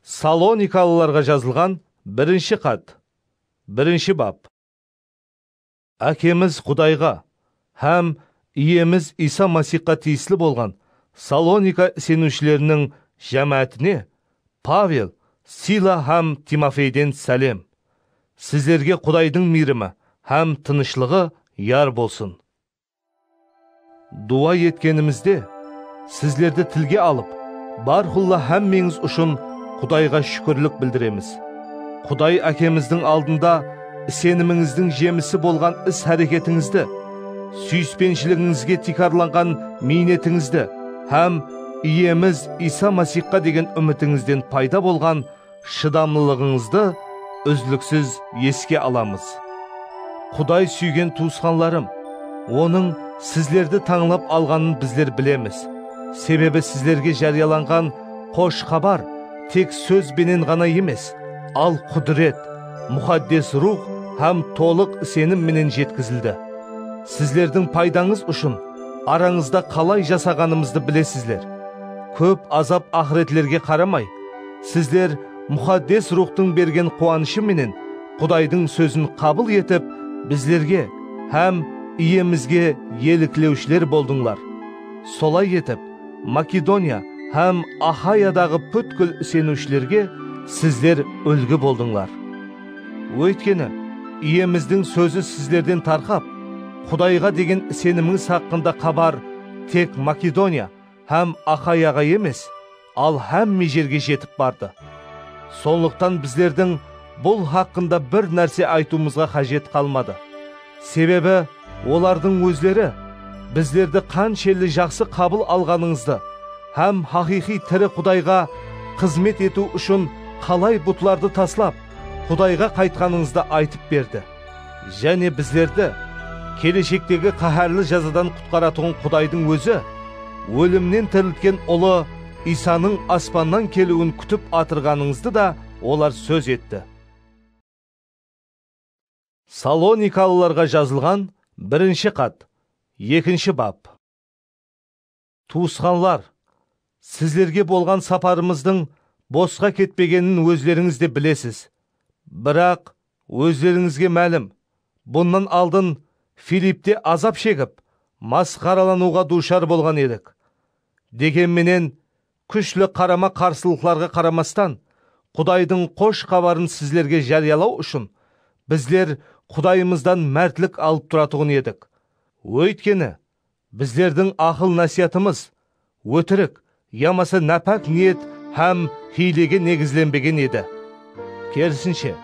Salonikalılarǵa jazılǵan birinshi xat, birinshi bap. Ákemiz Qudayǵa hám Iyemiz Iysa Masixqa tiyisli bolǵan Salonika iseniwshileriniń jámáátine Pavel, Sila hám Timofeyden sálem. Sizlerge Qudaydıń miyrimi hám tınıshlıǵı yar bolsın. Duwa etkenimizde, sizlerdi tilge alıp, bárqulla hámmeńiz ushın Qudayǵa shúkirlik bildiremiz. Quday Ákemizdiń aldında isenimińizdiń jemisi bolǵan is-háreketińizdi, súyispenshiligingizge tiykarlanǵan miynetińizdi hám Iyemiz Iysa Masixqa degen úmitińizden payda bolǵan Shıdamlılıǵıńızdı úzliksiz eske alamız. Quday súygen tuwısqanlarım, Onıń sizlerdi tańlap alǵanın bizler bilemiz, sebebi sizlerge járiyalanǵan Xosh Xabar tek sóz benen ǵana emes, al Qudiret, Muxaddes Ruwx hám tolıq isenim menen jetkizildi. Sizlerdiń paydańız ushın arańızda qalay jasaǵanımızdı bilesizler. Kóp azap-aqıretlerge qaramay, Sizler Muxaddes Ruwxtıń bergen quwanıshı menen Qudaydıń sózin qabıl etip, bizlerge hám Iyemizge eliklewshiler boldıńlar. Solay etip, Makedoniya hám Axayadaǵı pútkil iseniwshilerge sizler úlgi boldıńlar. Óytkeni, Iyemizdiń sózi sizlerden tarqap, Qudayǵa degen isenimińiz haqqında xabar tek Makedoniya hám Axayaǵa emes, Al hámme jerge jetip bardı. Sonlıqtan bizlerdiń bul haqqında bir nárse aytıwımızǵa qájet qalmadı. Sebebi olardıń ózleri bizlerdi qanshelli jaqsı qabıl alǵanıńızdı hám haqıyqıy tiri Qudayǵa xızmet etiw ushın qalay butlardı taslap, Qudayǵa qaytqanıńızdı aytıp berdi. Jáne bizlerdi keleshektegi qáhárli jazadan qutqaratuǵın Qudaydıń Ózi ólimnen tiriltken Ulı Iysanıń aspannan keliwin kútip atırǵanıńızdı da olar sóz etti. Salonikalılarǵa jazılǵan birinshi xat, ekinshi bap. Tuwısqanlar, sizlerge bolǵan saparımızdıń bosqa ketpegenin ózlerińiz de bilesiz. Biraq, ózlerińizge málim, bunnan aldın Filipte azap shegip, masqaralanıwǵa duwshar bolǵan edik. Degen menen, kúshli qarama-qarsılıqlarǵa qaramastan, Qudaydıń Xosh Xabarın sizlerge járiyalaw ushın, bizler Qudayımızdan mártlik alıp turatuǵın edik. Óytkeni, Bizlerdiń aqıl-násiyatımız ótirik yamasa nápák niyet hám hiylege negizlenbegen edi. Kerisinshe,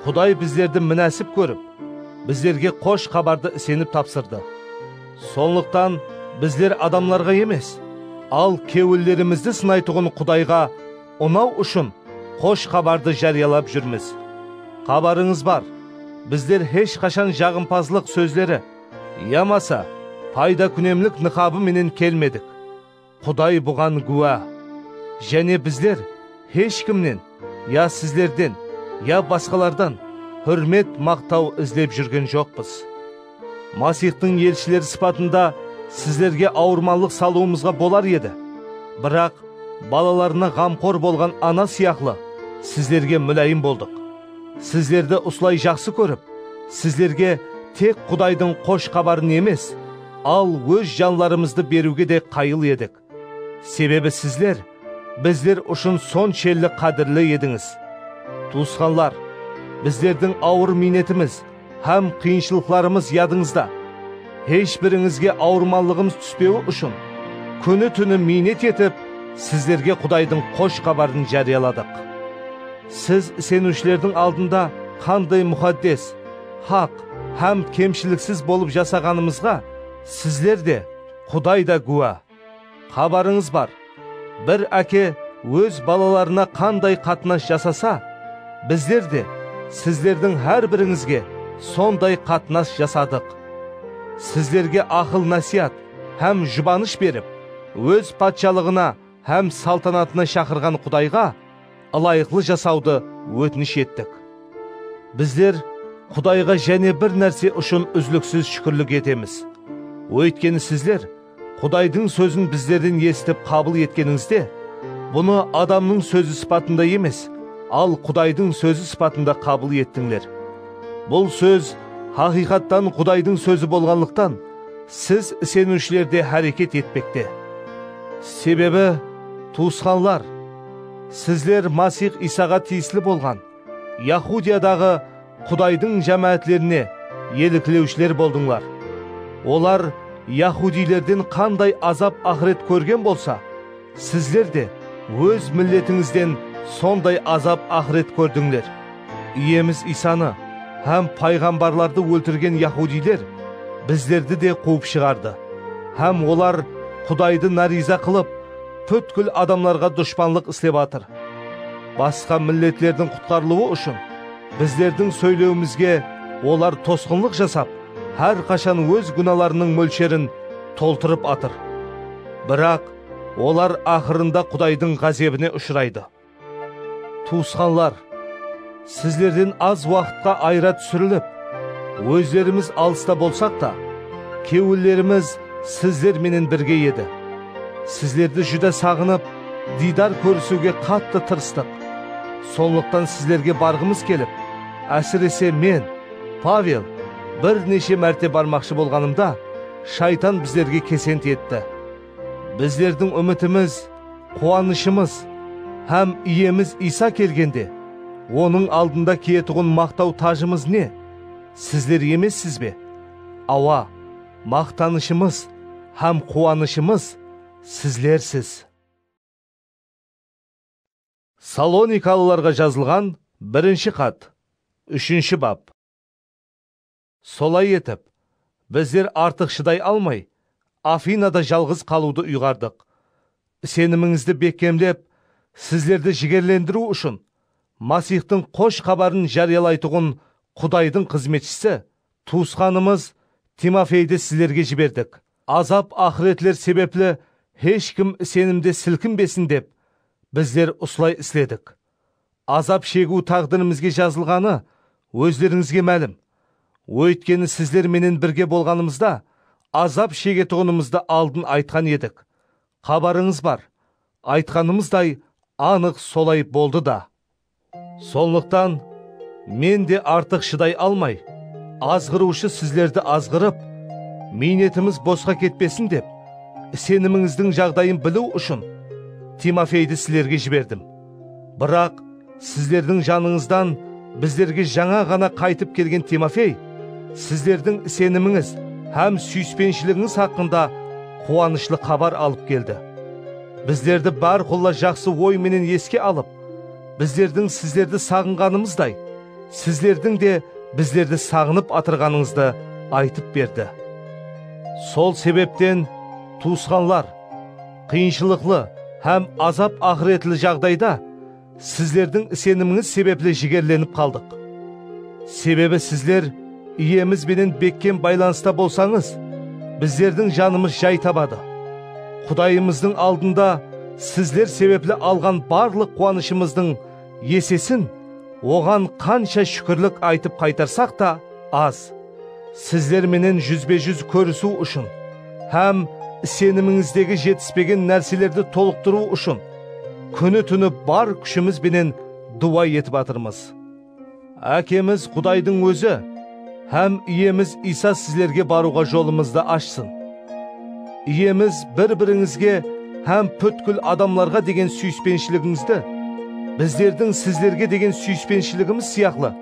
Quday bizlerdi minásip kórip, bizlerge Xosh Xabardı isenip tapsırdı. Sonlıqtan bizler adamlarǵa emes, al kewillerimizdi sınaytuǵın Qudayǵa unaw ushın Xosh Xabardı járiyalap júrmiz. Xabarıńız bar, bizler hesh qashan jaǵımpazlıq sózleri, Yamasa, payda-kúnemlik nıqabı menen kelmedik. Quday buǵan gúwa. Jáne bizler hesh kimnen ya sizlerden ya basqalardan húrmet, maqtaw izlep júrgen joqpız. Masixtıń elshileri sıpatında sizlerge awırmanlıq salıwımızǵa bolar edi, biraq balalarına ǵamqor bolǵan ana sıyaqlı sizlerge múláyim boldıq. Sizlerdi usılay jaqsı kórip, sizlerge tek Qudaydıń Xosh Xabarın emes, al óz janlarımızdı beriwge de qayıl edik. Sebebi sizler bizler ushın sonshelli qádirli edińiz. Tuwısqanlar, bizlerdiń awır miynetimiz, Hám qıyınshılıqlarımız yadıńızda. Hesh birińizge awırmanlıǵımız túspewi ushın, kúni-túni miynet etip, sizlerge Qudaydıń Xosh Xabarın járiyaladıq. Siz iseniwshilerdiń aldında qanday muxaddes, haq hám kemshiliksiz bolıp jasaǵanımızǵa sizler de, Quday da gúwa. Xabarıńız bar, bir áke óz balalarına qanday qatnas jasasa, bizler de sizlerdiń hár birińizge sonday qatnas jasadıq. Sizlerge aqıl-násiyat hám jubanısh berip, Óz Patshalıǵına hám saltanatına shaqırǵan Qudayǵa ılayıqlı jasawdı ótinish ettik. Bizler Qudayǵa jáne bir nárse ushın úzliksiz shúkirlik etemiz, óytkeni sizler Qudaydıń sózin bizlerden esitip qabıl etkenińizde, bunı adamnıń sózi sıpatında emes, al Qudaydıń sózi sıpatında qabıl ettińler. Bul sóz haqıyqattan Qudaydıń sózi bolǵanlıqtan, siz iseniwshiler de háreket etpekte. Sebebi, tuwısqanlar, sizler Masix Iysaǵa tiyisli bolǵan, Yahudiyadaǵı Qudaydıń jámáátlerine eliklewshiler boldıńlar. Olar yahudiylerden qanday azap-aqıret kórgen bolsa, sizler de óz milletińizden sonday azap-aqıret kórdińler. Iyemiz Iysanı hám payǵambarlardı óltirgen yahudiyler bizlerdi de quwıp shıǵardı hám olar Qudaydı náriyza qılıp, pútkil adamlarǵa dushpanlıq islep atır. Basqa milletlerdiń qutqarılıwı ushın bizlerdiń sóylewimizge olar tosqınlıq jasap, hár qashan óz gúnalarınıń mólsherin toltırıp atır. Biraq, olar aqırında Qudaydıń ǵázebine ushıraydı. Tuwısqanlar, sizlerden az waqıtqa ayıra túsirilip, ózlerimiz alısta bolsaq ta, kewillerimiz sizler menen birge edi. Sizlerdi júdá saǵınıp, Diydar kórisiwge qattı tırıstıq. Sonlıqtan sizlerge barǵımız kelip, ásirese men, Pavel, bir neshe márte barmaqshı bolǵanımda, shaytan bizlerge kesent etti. Bizlerdiń úmitimiz, quwanıshımız hám Iyemiz Iysa kelgende, Onıń aldında kiyetuǵın maqtaw tajımız ne? Sizler emessiz be? Awa, maqtanıshımız hám quwanıshımız Sizlersiz. Salonikalılarǵa jazılǵan birinshi xat, úshinshi bap. Solay etip, bizler artıq shıday almay, Afinada jalǵız qalıwdı uyǵardıq. Isenimińizdi bekkemlep, sizlerdi jigerlendiriw ushın, Masixtıń Xosh Xabarın járiyalaytuǵın Qudaydıń xızmetshisi Tuwısqanımız Timofeydi sizlerge jiberdik, azap-aqıretler sebepli hesh kim isenimde silkinbesin dep, bizler usılay isledik. Azap shegiw táǵdirimizge jazılǵanı ózlerińizge málim. Óytkeni sizler menen birge bolǵanımızda azap shegetuǵınımızdı aldın aytqan edik. Xabarıńız bar, aytqanımızday anıq solay boldı da. Sonlıqtan Men de artıq shıday almay, azǵırıwshı sizlerdi azǵırıp, miynetimiz bosqa ketpesin dep, isenimińizdiń jaǵdayın biliw ushın Timofeydi sizlerge jiberdim. Biraq sizlerdiń janıńızdan bizlerge jańa ǵana qaytıp kelgen Timofey sizlerdiń isenimińiz hám súyispenshiliǵińiz haqqında quwanıshlı xabar alıp keldi. Bizlerdi bárqulla jaqsı oy menen eske alıp, Bizlerdiń sizlerdi saǵınǵanımızday, sizlerdiń de bizlerdi saǵınıp atırǵanıńızdı aytıp berdi. Sol sebepten, tuwısqanlar, qıyınshılıqlı hám azap-aqıretli jaǵdayda sizlerdiń isenimińiz sebepli jigerlenip qaldıq. Sebebi sizler, Iyemiz benen bekkem baylanısta bolsańız, bizlerdiń janımız jay tabadı. Qudayımızdıń aldında sizler sebepli alǵan barlıq quwanıshımızdıń esesin Oǵan qansha shúkirlik aytıp qaytarsaq ta az. Sizler menen júzbe-júz kórisiw ushın hám isenimińizdegi jetispegen nárselerdi tolıqtırıw ushın kúni-túni bar kúshimiz benen duwa etip atırmız. Ákemiz Qudaydıń Ózi hám Iyemiz Iysa sizlerge barıwǵa jolımızdı ashsın. Iyemiz bir-birińizge hám pútkil adamlarǵa degen súyispenshiligizdi bizlerdiń sizlerge degen súyispenshiligimiz sıyaqlı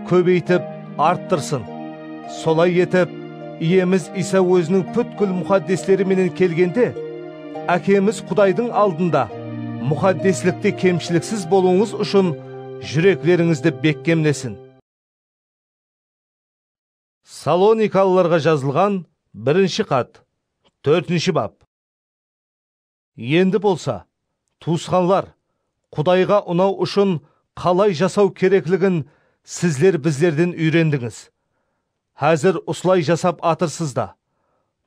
kóbeytip arttırsın. Solay etip, Iyemiz Iysa Óziniń pútkil muxaddesleri menen kelgende, Ákemiz Qudaydıń aldında muxaddeslikte kemshiliksiz bolıwıńız ushın júreklerińizdi bekkemlesin. Salonikalılarǵa jazılǵan birinshi xat, tórtinshi bap. Endi bolsa, tuwısqanlar, Qudayǵa unaw ushın qalay jasaw kerekligin sizler bizlerden úyrendińiz. Házir usılay jasap atırsız da.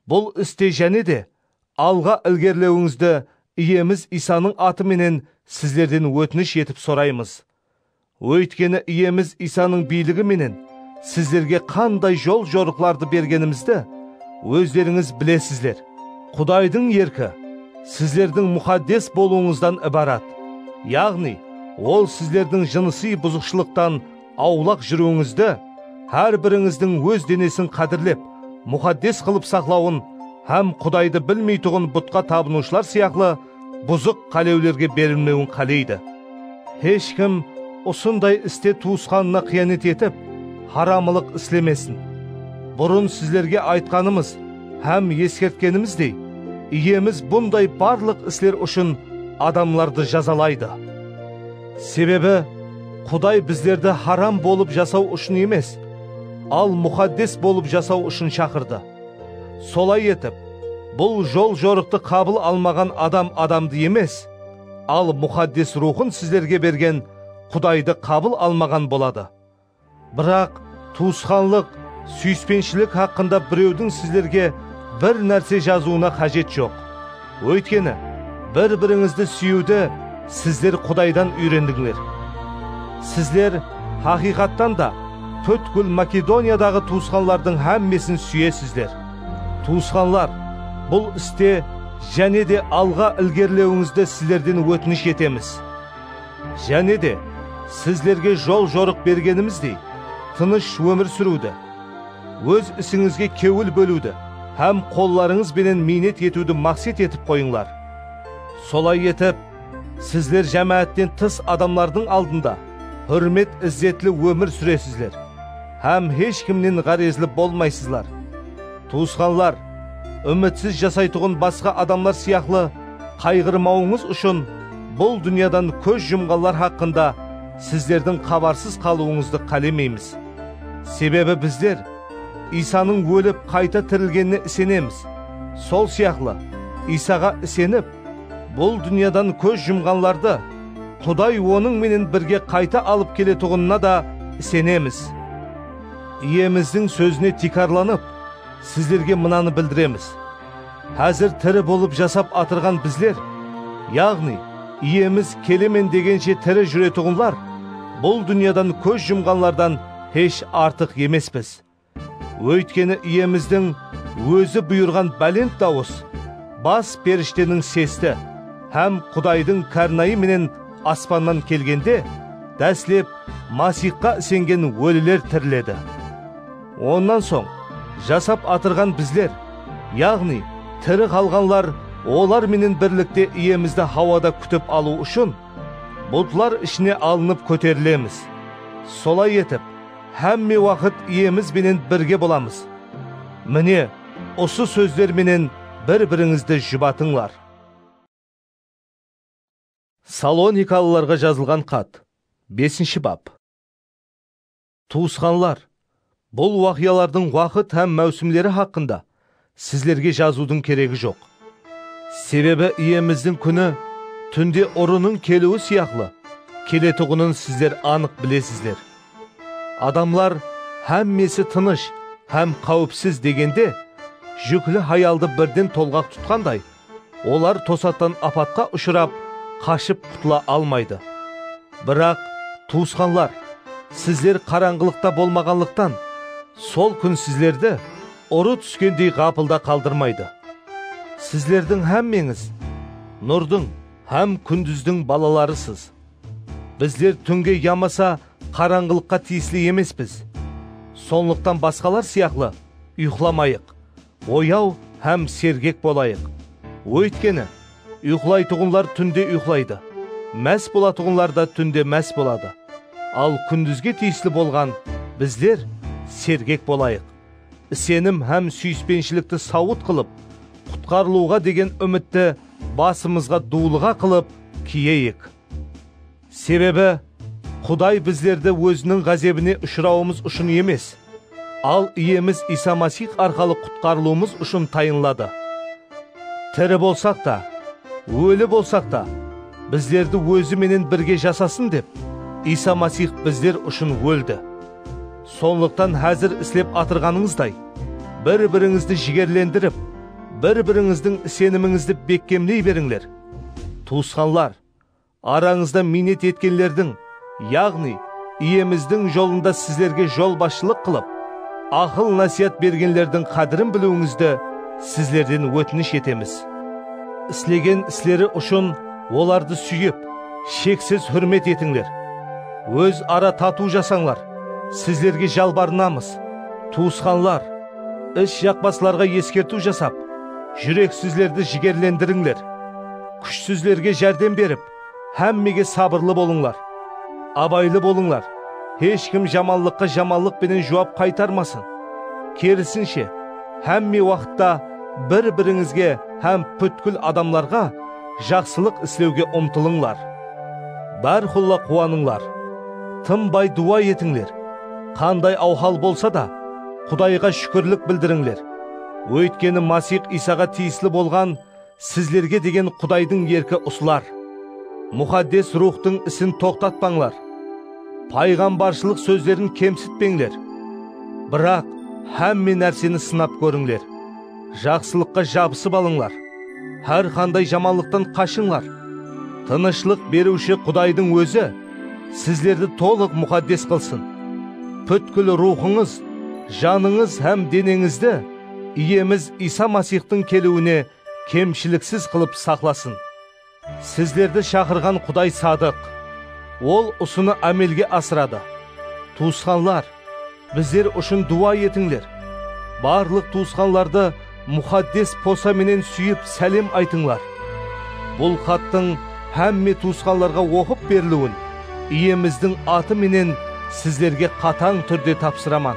Bul iste jáne de alǵa ilgerilewińizdi Iyemiz Iysanıń atı menen sizlerden ótinish etip soraymız. Óytkeni Iyemiz Iysanıń biyligi menen sizlerge qanday jol-jorıqlardı bergenimizdi ózlerińiz bilesizler. Qudaydıń erki sizlerdiń muxaddes bolıwıńızdan ibarat, yaǵnıy Ol sizlerdiń jınısıy buzıqshılıqtan Awlaq júriwińizdi, hár birińizdiń óz denesin qádirlep, muxaddes qılıp saqlawın hám Qudaydı bilmeytuǵın butqa tabınıwshılar sıyaqlı buzıq qálewlerge berilmewin qáleydi. Hesh kim usınday iste tuwısqanına qıyanet etip, haramılıq islemesin. Burın sizlerge aytqanımız hám eskertkenimizdey, Iyemiz bunday barlıq isler ushın adamlardı jazalaydı. Sebebi, Quday bizlerdi haram bolıp jasaw ushın emes, al muxaddes bolıp jasaw ushın shaqırdı. Solay etip, bul jol-jorıqtı qabıl almaǵan adam adamdı emes, al muxaddes Ruwxın sizlerge bergen Qudaydı qabıl almaǵan boladı. Biraq, tuwısqanlıq, súyispenshilik haqqında birewdiń sizlerge bir nárse jazıwına qájet joq. Óytkeni, bir-birińizdi súyiwdi sizler Qudaydan úyrendińler. Sizler, haqıyqattan da, pútkil Makedoniyadaǵı tuwısqanlardıń hámmesin súyesizler. Tuwısqanlar, bul iste jáne de alǵa ilgerilewińizdi sizlerden ótinish etemiz. Jáne de, sizlerge jol-jorıq bergenimizdey, tınısh ómir súriwdi, óz isińizge kewil bóliwdi hám qollarıńız benen miynet etiwdi maqset etip qoyıńlar. Solay etip, sizler jámáátten tıs adamlardıń aldında húrmet-izzetli ómir súresizler hám hesh kimnen ǵárezli bolmaysızlar. Tuwısqanlar, úmitsiz jasaytuǵın basqa adamlar sıyaqlı qayǵırmawıńız ushın bul dúnyadan kóz jumǵanlar haqqında sizlerdiń xabarsız qalıwıńızdı qálemeymiz. Sebebi bizler Iysanıń ólip qayta tirilgenine isenemiz, sol sıyaqlı Iysaǵa isenip, bul dúnyadan kóz jumǵanlardı Quday Onıń menen birge qayta alıp keletuǵınına da isenemiz. Iyemizdiń sózine tiykarlanıp, sizlerge mınanı bildiremiz, Házir tiri bolıp jasap atırǵan bizler, yaǵnıy, Iyemiz kelemen degenshe tiri júretuǵınlar, bul dúnyadan kóz jumǵanlardan hesh artıq emespiz. Óytkeni Iyemizdiń Ózi buyırǵan bálent dawıs, bas perishteniń sesti hám Qudaydıń kárnayı menen Aspannan kelgende, dáslep Masixqa isengen óliler tiriledi. Onnan soń, jasap atırǵan bizler, yaǵnıy, tiri qalǵanlar olar menen birlikte Iyemizdi hawada kútip alıw ushın, bultlar ishine alınıp kóterilemiz. Solay etip, hámme waqıt Iyemiz benen birge bolamız. Mine, usı sózler menen bir-birińizdi jubatıńlar. Salonikalılarǵa jazılǵan xat, besinshi bap. Tuwısqanlar, bul waqıyalardıń waqıt hám máwsimleri haqqında sizlerge jazıwdıń keregi joq. Sebebi Iyemizdiń kúni túnde urınıń keliwi sıyaqlı keletuǵının sizler anıq bilesizler. Adamlar hámmesi tınısh hám qáwipsiz degende, júkli hayaldı birden tolǵaq tutqanday, Olar tosattan apatqa ushırap, qashıp qutıla almaydı. Biraq, tuwısqanlar, sizler qarańǵılıqta bolmaǵanlıqtan, sol kún sizlerdi urı túskendey ǵapılda qaldırmaydı. Sizlerdiń hámmeńiz Nurdıń hám kúndizdiń balalarısız. Bizler túnge yamasa qarańǵılıqqa tiyisli emespiz. Sonlıqtan basqalar sıyaqlı uyıqlamayıq, Oyaw hám sergek bolayıq. Óytkeni, uyqılaytuǵınlar túnde uyqılaydı, más bolatuǵınlar da túnde más boladı. Al kúndizge tiyisli bolǵan bizler sergek bolayıq. Isenim hám súyispenshilikti sawıt qılıp, qutqarılıwǵa degen úmitti basımızǵa duwlıǵa qılıp kiyeyik. Sebebi, Quday bizlerdi Óziniń ǵázebine ushırawımız ushın emes, al Iyemiz Iysa Masix arqalı qutqarılıwımız ushın tayınladı. Tiri bolsaq ta, óli bolsaq ta, bizlerdi Ózi menen birge jasasın dep, Iysa Masix bizler ushın óldi. Sonlıqtan házir islep atırǵanıńızday, bir-birińizdi jigerlendirip, bir-birińizdiń isenimińizdi bekkemley berińler. Tuwısqanlar! Arańızda miynet etkenlerdiń, yaǵnıy, Iyemizdiń jolında sizlerge jolbasshılıq qılıp, aqıl-násiyat bergenlerdiń qádirin biliwińizdi sizlerden ótinish etemiz. Islegen isleri ushın olardı súyip, sheksiz húrmet etińler. Óz ara tatıw jasańlar, sizlerge jalbarınamız, tuwısqanlar, is jaqpaslarǵa eskertiw jasap, júreksizlerdi jigerlendirińler. Kúshsizlerge járdem berip, hámmege sabırlı bolıńlar. Abaylı bolıńlar, hesh kim jamanlıqqa jamanlıq penen juwap qaytarmasın. Kerisinshe, hámme waqıtta bir-birińizge hám pútkil adamlarǵa jaqsılıq islewge umtılıńlar. Bárqulla quwanıńlar. Tınbay duwa etińler. Qanday awhal bolsa da, Qudayǵa shúkirlik bildirińler. Óytkeni Masix Iysaǵa tiyisli bolǵan Sizlerge degen Qudaydıń erki usılar, Muxaddes Ruwxtıń isin toqtatpańlar, payǵambarshılıq sózlerin kemsitpeńler. Biraq, hámme nárseni sınap kórińler, jaqsılıqqa jabısıp alıńlar, hár qanday jamanlıqtan qashıńlar. Tınıshlıq Beriwshi Qudaydıń Ózi sizlerdi tolıq muxaddes qılsın. Pútkil ruwxıńız, janıńız hám deneńizdi, Iyemiz Iysa Masixtıń keliwine kemshiliksiz qılıp saqlasın. Sizlerdi shaqırǵan Quday sadıq. Ol usını ámelge asıradı. Tuwısqanlar, bizler ushın duwa etińler. Barlıq tuwısqanlardı muxaddes posa menen súyip sálem aytıńlar. Bul xattıń hámme tuwısqanlarǵa oqıp beriliwin Iyemizdiń atı menen sizlerge qatań túrde tapsıraman.